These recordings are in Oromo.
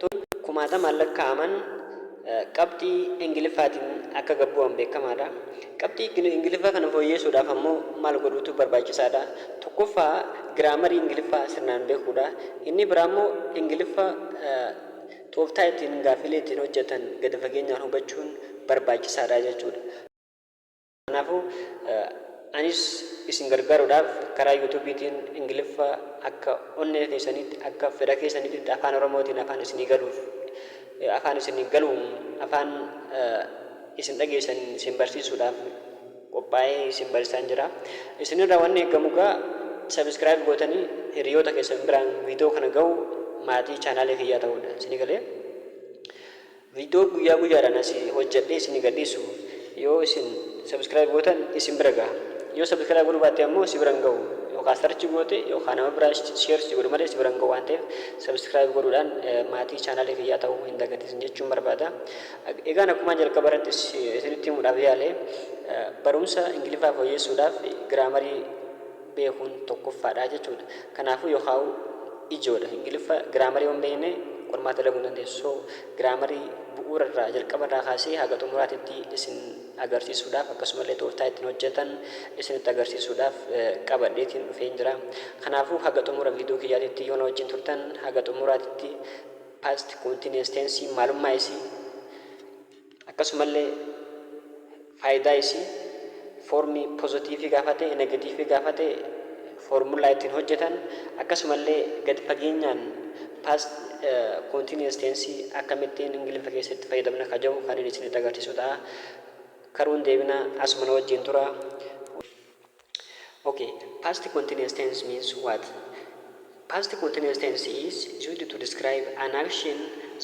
Loltoonni kumaatamaan lakkaa'aman qabxii Ingiliffaatiin akka gad bu'an beekamaadha. Qabxii Ingiliffaa kana fooyyeessuudhaaf ammoo maal godhuutu barbaachisaadha? Tokkoffaa giraamarii Ingiliffaa sirnaan beekuudha. Inni biraa immoo Ingiliffa tooftaa ittiin gaaffilee ittiin hojjetan gadi fageenyaan hubachuun barbaachisaadha jechuudha. Kanaafuu, anis isin gargaaruudhaaf karaa Yuutuubiitiin Ingiliffa akka onnee keessaniitti, akka fedha keessaniititti Afaan Oromootiin afaan isinii galuuf, afaan isinii galuun afaan isin dhageessan isin barsiisuudhaaf qophaa'ee isin barsiisaan jira. Isin irraa wanni eegamu egaa Subscribe gootanii hiriyoota keessan biraan viidiyoo kana gahuu, maatii chaanaalii kiyyaa ta'uudha. Isinii galee? Video guyyaa guyyaadhaan asii hojjadhee isinii gadhiisu yoo isin subscribe gootan isin bira gaha. Yoo subscribe godhuu baatte ammoo si bira hin gahu. Yookaa search goote yookaa nama biraa share si godhu malee si bira hin gahu waan ta'eef subscribe godhuudhaan maatii channel kiyyaa ta'uu hin dagatin jechuun barbaada. Egaan akkumaan jalqaba irratti isinitti himuudhaaf yaale barumsa Ingiliffaa fooyyeessuudhaaf giraamarii beekuun tokkoffaadha jechuudha. Kanaafuu yookaa'u ijoodha. Ingiliffa giraamarii yoo hin beekne qormaata dalaguu hin dandeessu. So giraamarii bu'uurarraa jalqabarraa kaasee haga xumuraatitti isin agarsiisuudhaaf akkasumallee tooftaa ittiin hojjetan isinitti agarsiisuudhaaf qabadheetiin dhufeen jira. Kanaafuu haga xumura viidiyoo kiyyaatitti yoo na wajjin turtan haga xumuraatitti past continuous tense maalummaa isii Akkasumallee faayidaa isii foormii pozatiivii gaafate, negatiivii gaafate foormullaa ittiin hojjetan akkasumallee gad fageenyaan past continuous tense akkamittiin Ingiliffa keessatti fayyadamna ka jedhu kanin isinitti agarsiisu ta'a. Karuun deebina asuma na wajjiin tura. Ok past continuous tense means what? Past continuous tense is used to describe an action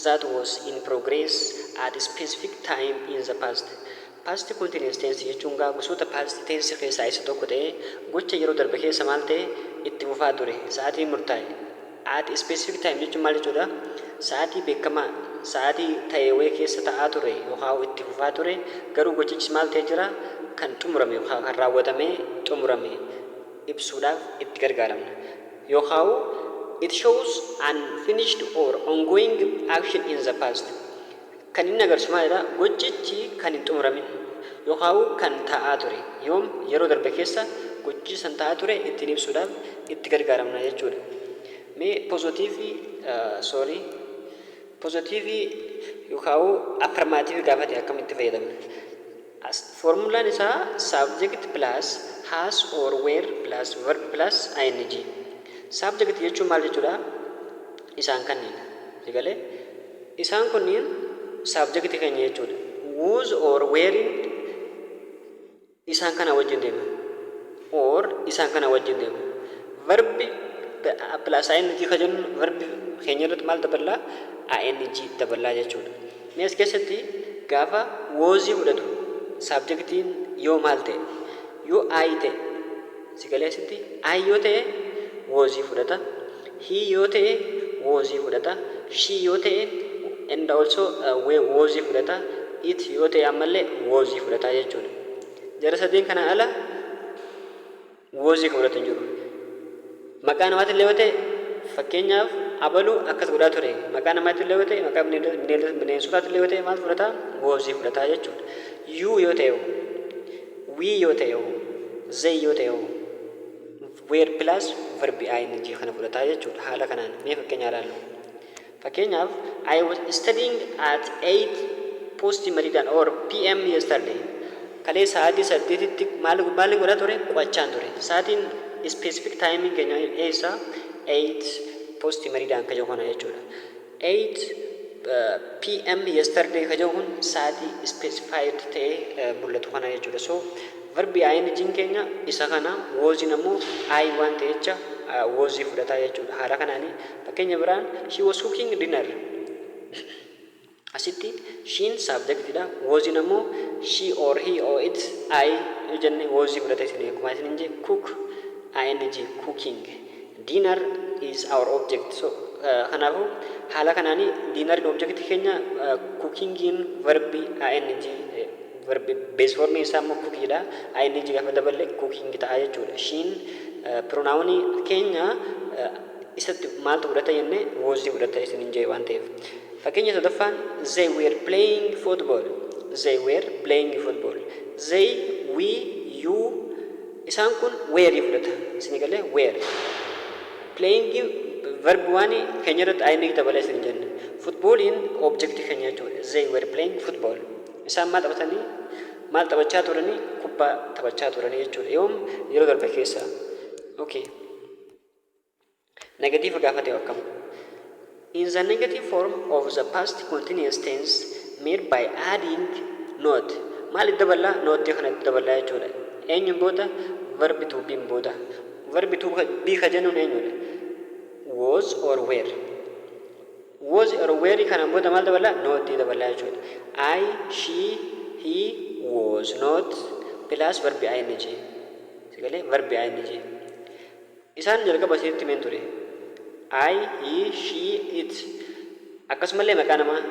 that was in progress at specific time in the past. Past continuous tense jechuun gaa gosoota past tense keessaa isa tokko ta'ee gocha yeroo darbe keessa maal ta'e itti fufaa ture sa'atiin murtaa'e. At a specific time jechuun maal jechuudha? Sa'aatii beekamaa, sa'aatii ta'e wayii keessa ta'aa ture yookaan itti fufaa ture, garuu gochichis maal ta'ee jira? Kan xumurame yookaan kan raawwatamee xumurame ibsuudhaaf itti gargaaramna. Yookaan It shows an finished or ongoing action in the past. Kan inni agarsiisu maalidha? Gochichi kan hin xumuramin yookaa'u kan ta'aa ture yoom yeroo darbe keessa gochichi san ta'aa ture ittiin ibsuudhaaf itti gargaaramna jechuudha. Mee pozootiivii soorii pozootiivii yookaa'u affirmaatiivii gaafate akkamitti fayyadamna? As foormulaan isaa subject plus has or were plus verb plus ing. Subject jechuun maal jechuudha? Isaan kanniin. Sigalee? Isaan kunniin subject keenya jechuudha. Whose or wherein isaan kana wajjin deema. Or isaan kana wajjin deema. Verb plus ing ka jennu verb keenya irratti maal daballaa? ing daballaa jechuudha. Mee as keessatti gaafa was fudhatu subjectiin yoo maal ta'e? Yoo I ta'e Si galee asitti? I yoo ta'e was fudhata. He yoo ta'e was fudhata. She yoo ta'e and also was fudhata. It yoo ta'e ammallee was fudhata jechuudha. Jara sadeen kana ala was kan fudhatu hin jiru. Maqaa namaatillee yoo ta'e fakkeenyaaf abalu akkas godhaa ture. Maqaa namaatillee yoo ta'e maqaa bineensotaatillee yoo ta'e maal fudhata? Was fudhata jechuudha. You yoo ta'e We yoo ta'e hoo? They yoo ta'e hoo? Were plus verbi ing kana fudhata jechuu dha. Haala kanaan mee fakkeenya ilaallu. Fakkeenyaaf I was studying at 8 post meridian or pm yesterday. Kalee sa'aatii saddeetitti maal maalin godha ture? Qo'achaan ture. Sa'aatiin specific timing keenya eessa? 8 post meridian ka jedhu kana jechuu dha. 8PM yesterday ka jedhu kun sa'atii specified ta'ee mul'atu kana jechuudha. So verbi ing'n keenya isa kana, was'n ammoo I waan ta'e jecha was fudhata jechuudha. Haala kanaani fakkeenya biraan she was cooking dinner. Asitti she'n subject dha, was'n ammoo she or he or it, I yoo jenne was fudhata isiniif akkuma isiniin jedhe cook ing cooking. Dinner is our object. So, kanaafu haala kanaan dinner in object keenya cooking in verb ing verb base form isaa immoo cook dha. ing gaafa daballe cooking ta'a jechuudha. Shin pronoun keenya isatti maaltu fudhata jenne was fudhata isinin jee waan ta'eef. Fakkeenya sadaffaan they were playing football. They were playing football. They, we, you Isaan kun where fudhata. Isinii galee? Where. Playing verb one keenya irratti ing dabala isin hin jenne. Footballing object keenya jechuudha. They were playing football. Isaan maal taphatanii? Maal taphachaa turanii? Kubbaa taphachaa turanii jechuudha. Yoom? Yeroo darbe keessa. Okay. Negatiiva gaafa ta'e hoo akkam? In the negative form of the past continuous tense made by adding not maaliif daballa? Not kanatti daballa jechuudha. Eenyuun booda? Verb to be'n booda. Verb to be ka jennuun eenyudha? Was or were. Was or were kanaan booda maal daballa? Not daballa jechuudha. I, she, he was not plus verb ing. Sagalee verb ing. Isaan jalqaba isinitti himeen ture. I, he, she, it. Akkasumallee maqaa namaa,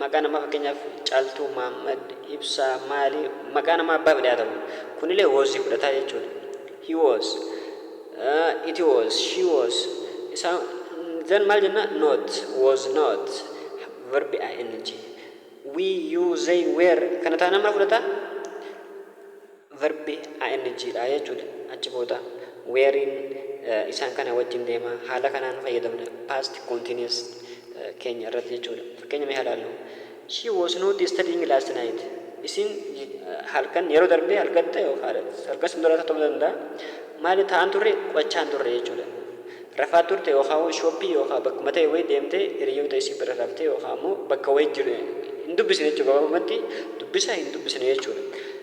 maqaa namaa fakkeenyaaf Caaltuu, Maammad, Ibsaa, maali, maqaa namaa abbaa fedhe haa ta'u. Kunilee was fudhataa jechuudha. He was, uh, it was, she was. Isaa then maal jenna? Not, was not. Verbi ing. We, you, they, were. Kana taanaan maal fudhataa? Verb ING dha jechuu dha. Achi booda were'n isaan kana wajjin deema. Haala kanaan fayyadamna past continuous keenya irratti jechuu dha. Fakkeenya mee haa ilaallu. She was not studying last night. Isiin halkan yeroo darbe halkatte halkan san dura ta'uu danda'a. Maali taa'an turre qo'achaa hin turre jechuu dha. Rafaa turte yookaan shooppii yookaan bakkuma ta'e wayii deemtee hiriyoota isii bira raftee yookaan ammoo bakka wayii hin dubbisne jechuu gabaabumatti dubbisa hin dubbisne jechuu dha.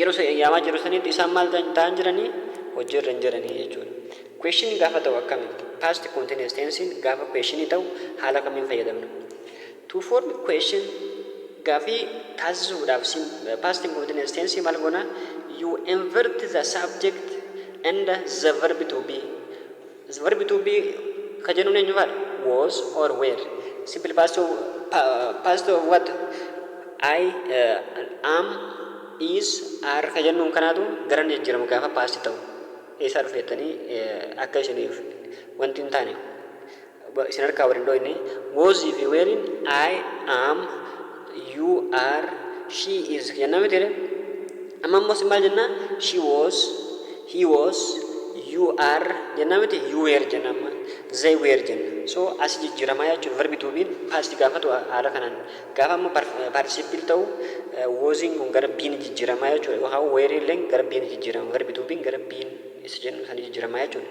Yeroo isa yaamaa jiru sanitti isaan maal ta'an jiranii? Hojiirra hin jiranii jechuudha. Question gaafa ta'u akkamitti? Past continuous tense'n gaafa question ta'u haala kamiin fayyadamna? To form question gaafii taasisuudhaaf past continuous tense maal goona? You invert the subject and the verb to be Verbi to be ka jennuun eenyu faadha? Was or were. Simple past of, pa, past of what? I, uh, am, is, are ka jennuun kanaatu gara ni jijjiiramu gaafa past ta'u. Eessaa dhufe jettanii eh, akka isiniif wanti hin taane isin harkaa wal hin dhooyne. Was fi weeriin I, am, you are, she is jenna miti ree? Amma immoo isin maal jenna? She was, He was, you are jenna miti you were jenna amma they were jenna so asi jijjiramaa jechuudha verbi to be'n past gaafatu haala kanaan gaafa amma participle ta'u was'n kun gara be'n jijjiramaa jechuudha yookaan were illeen gara be'n jijjirama verbi to be'n gara be'n isa jennu sana jijjiramaa jechuudha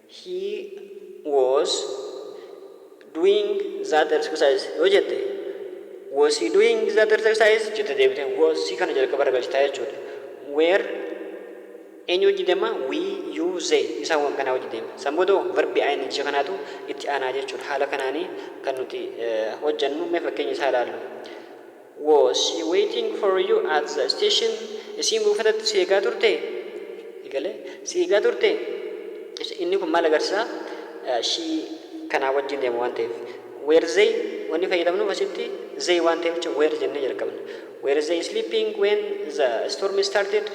He was doing that exercise yoo jette was he doing that exercise jette deebitee was si kana jalqaba irra galchitaa jechuudha. Were eenyu wajji deema? We, you, they isaan waan kanaa wajji deema. San booda verbi ing kanaatu itti aanaa jechuudha. Haala kanaanii kan nuti hojjannu mee fakkeenya isaa ilaallu. Was she waiting for you at the station? Isiin buufatatti si eegaa turtee? Ni galee? Si eegaa turtee? Ibsa, Inni kun maal agarsiisa? Eh, She kanaa wajjin deema waan ta'eef. Were they wanni fayyadamnuuf asitti they waan ta'eef jecha were jennee jalqabna. Were they sleeping when the storm started?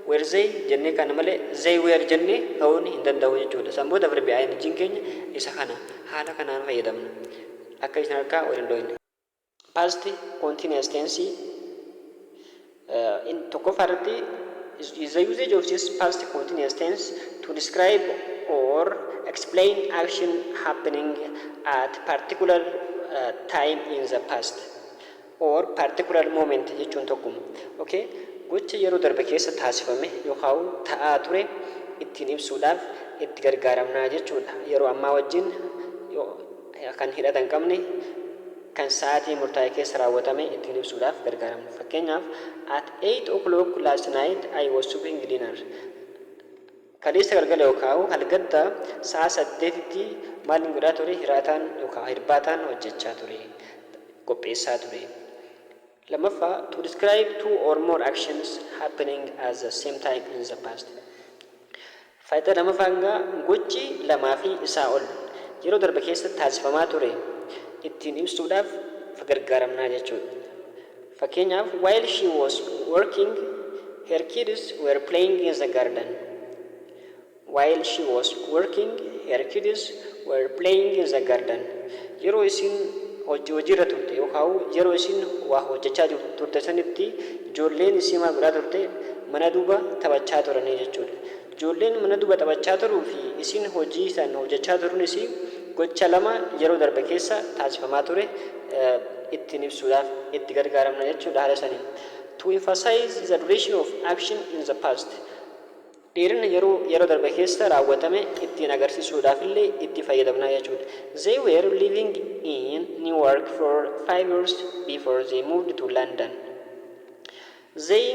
Were they jennee kana malee they were jennee ka'uun hin danda'u jechuudha. San booda verbi ing'n keenya isa kana. Haala kanaan fayyadamna. Akka isin harkaa wal hin dhooyne. Past continuous tense in tokkoffaa irratti is the usage of this past continuous tense to describe or explain action happening at particular time in the past or particular moment jechuun tokkuma. Okay? Gocha yeroo darbe keessa taasifame yookaan ta'aa ture ittiin ibsuudhaaf itti gargaaramnaa jechuudha. Yeroo ammaa wajjin kan hidhata hin qabne kan sa'aatii murtaa'e keessa raawwatame ittiin ibsuudhaaf gargaaramu. Fakkeenyaaf, At eight o'clock last night I was cooking dinner. Kaleessa galgala yookaan halgadda sa'a saddeetitti maalin godhaa ture? Hiraataan yookaan hirbaataan hojjechaa ture, qopheessaa ture. 2ffaa To describe two or more actions happening at the same time in the past Faaydaa 2ffaan gaa gochi lamaa fi isaa ol yeroo darbe keessatti taasifamaa ture ittiin ibsuudhaaf fgargaaramna jechuudha. Fakkeenyaaf While she was working, her kids were playing in the garden. While she was working, her kids were playing in the garden. Yeroo isiin hojji hojiirra turte yookaa u yeroo isiin waa hojjachaa jur turte sanitti ijoolleen isii maal godhaa turte? Mana duba taphachaa turanii jechuudha. Ijoolleen mana duba taphachaa turuu fi isiin hojii san hojjachaa turuun isii gocha lama yeroo darbe keessa taasifamaa ture ittiin ibsuudhaaf itti gargaaramna jechuudha haala saniin. To emphasize the duration of action in the past. Dheerina yeroo yeroo darbe keessa raawwatame ittiin agarsiisuudhaaf illee itti fayyadamna jechuudha. They were living in Newark for five years before they moved to London. They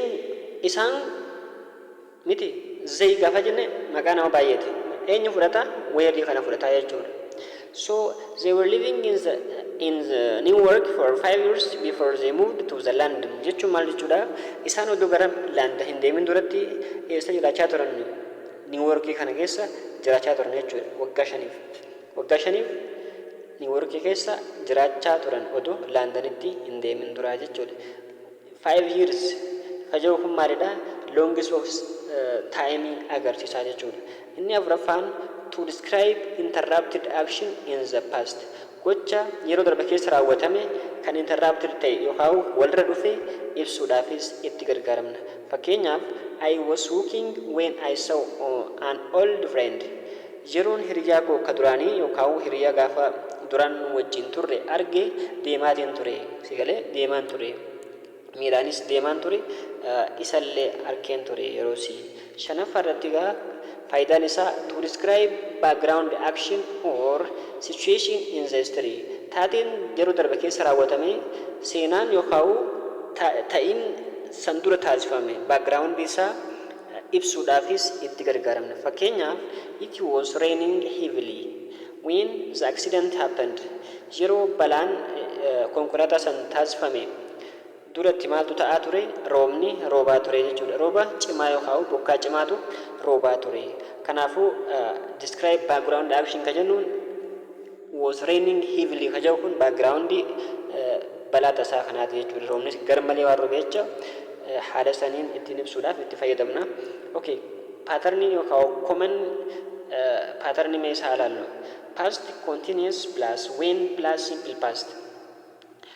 isaan miti they gaafa jenne maqaa nama baay'eeti. Eenyu fudhata? Were kana fudhata jechuudha. So they were living in the, in the New York for five years before they moved to the London. Jechuun maal jechuudha? Isaan odoo gara London hin deemin duratti eessa jiraachaa turan? New York kana keessa jiraachaa turan jechuudha. Waggaa shaniif. Waggaa shaniif New York keessa jiraachaa turan odoo Londonitti hin deemin duraa jechuudha. Five years ka jedhu kun maalidha? Longest of time agarsiisa jechuudha. Inni afuraffaan to describe interrupted action in the past gocha yeroo darbe keessa raawwatame kan interrupted ta'e yookaan walirra dhufe ibsuudhaafis itti gargaaramna. Fakkeenyaaf, I was walking when I saw an old friend. Yeroon hiriyaa koo ka duraanii yookaan hiriyaa gaafa duraan wajjin turre arge deemaatiin ture. Si galee? Deemaan ture. Miilaanis deemaan ture. Isallee arkeen ture yerosii. Shanaffaa irratti egaa faayidaan isaa to describe background action or situation in the history taateen yeroo darbe keessa raawwatame seenaan yookaan ta'iin san dura taasifame background isaa ibsuudhaafis itti gargaaramna. Fakkeenyaaf, It was raining heavily when the accident happened. Yeroo balaan konkolaataa san taasifame duratti maaltu ta'aa ture? Roobni roobaa ture jechuudha. Rooba cimaa yookaan bokkaa cimaatu roobaa ture. Kanaafuu, describe background action kan jennuun was raining heavily ka jedhu kun background balaa tasaa kanaati jechuudha. Roobnis garmalee waan robe jecha haala saniin ittiin ibsuudhaaf itti fayyadamna. Okay, paatarniin yookaan common paatarnii mee isaa ilaallu. Past continuous plus when plus simple past.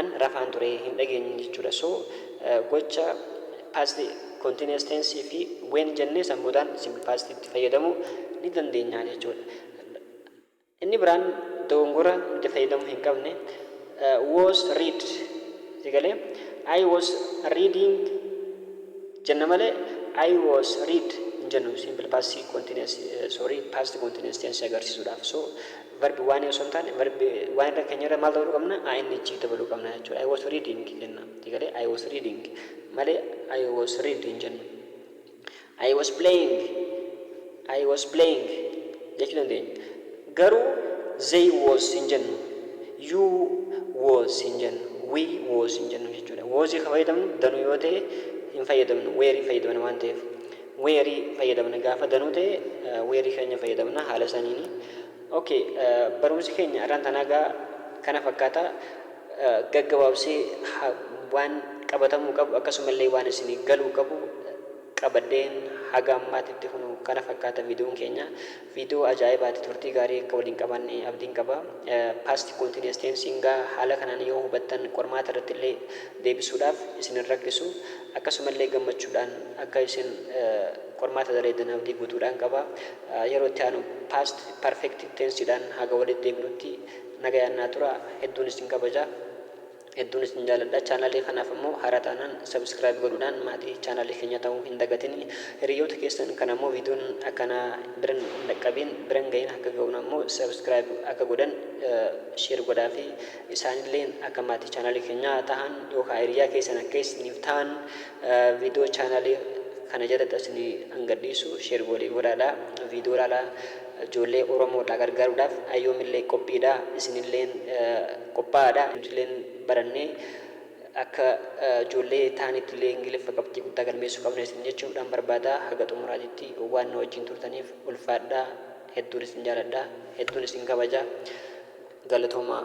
an rafaan ture hin dhageenye jechuudha so gocha past continuous tense fi when jennee san boodaan simple past itti fayyadamuu ni dandeenya jechuudha inni biraan dogongora nuti fayyadamuu hin qabne was read sigalee I was reading jenna malee I was read hin jennu simple past continuous sorry past continuous tense agarsiisuudhaaf so Verb waanii osoo hin taane verb waan irra keenya irra maal dabaluu qabna? ing dabaluu qabna jechuudha. I was reading jenna. Egalee I was reading malee I was read hin jennu. I was playing I was playing jechuu dandeenya. Garuu they was hin jennu. You was hin jennu. We was hin jennu jechuudha. Was kan fayyadamnu danuu yoo ta'e hin fayyadamnu. Where fayyadamna waan ta'eef. Where fayyadamna gaafa danuu ta'e where keenya fayyadamna haala saniini ok barumsi keenya arraan tanaa gaa kana fakkaata gaggabaabsee waan qabatamuu qabu akkasumallee waan isinii galuu qabu qabadheen haga ammaatitti kunoo kana fakkaata videon keenya Viidiyoo ajaa'ibaati turtii gaarii akka waliin qabaanne abdiin qaba. Past continuous tense ngaa haala kanaan yoo hubattan qormaata irratti illee deebisuudhaaf isin hin rakkisu. Akkasuma illee gammachuudhaan akka isin qormaata daleeddan abdii guutuudhaan qaba. Yeroo itti aanu past perfect tense dhaan haga walitti deebinutti nagayaan naa turaa. Hedduun isin kabaja. Hedduun isin jaaladha. Channel kanaaf ammoo haaraa taanaan subscribe godhuudhaan maatii channel keenyaa ta'uu hin dagatinii. Hiriyyoota keessan kan ammoo videon akkanaa biran hin dhaqqabiin biran gahin akka gahun ammoo subscribe akka godhan share godhaafi. Isaanilleen akka maatii channel keenyaa tahan yookaa hiriyyaa keessan akka isiniif tahan Video channel kana jalatti asini an gadhiisu share walii godhaadha video laala ijoollee oromoodha gargaaruudhaaf an yoomillee qophiidha isinilleen qophaa'aadha nutilleen barannee akka ijoollee taanittillee ingiliffa qabxii guddaa galmeessuu qabna isin jechuudhaan barbaada haga xumuraatitti waan na wajjin turtaniif ulfaadha hedduun isin jaaladha hedduun isin kabaja galatoomaa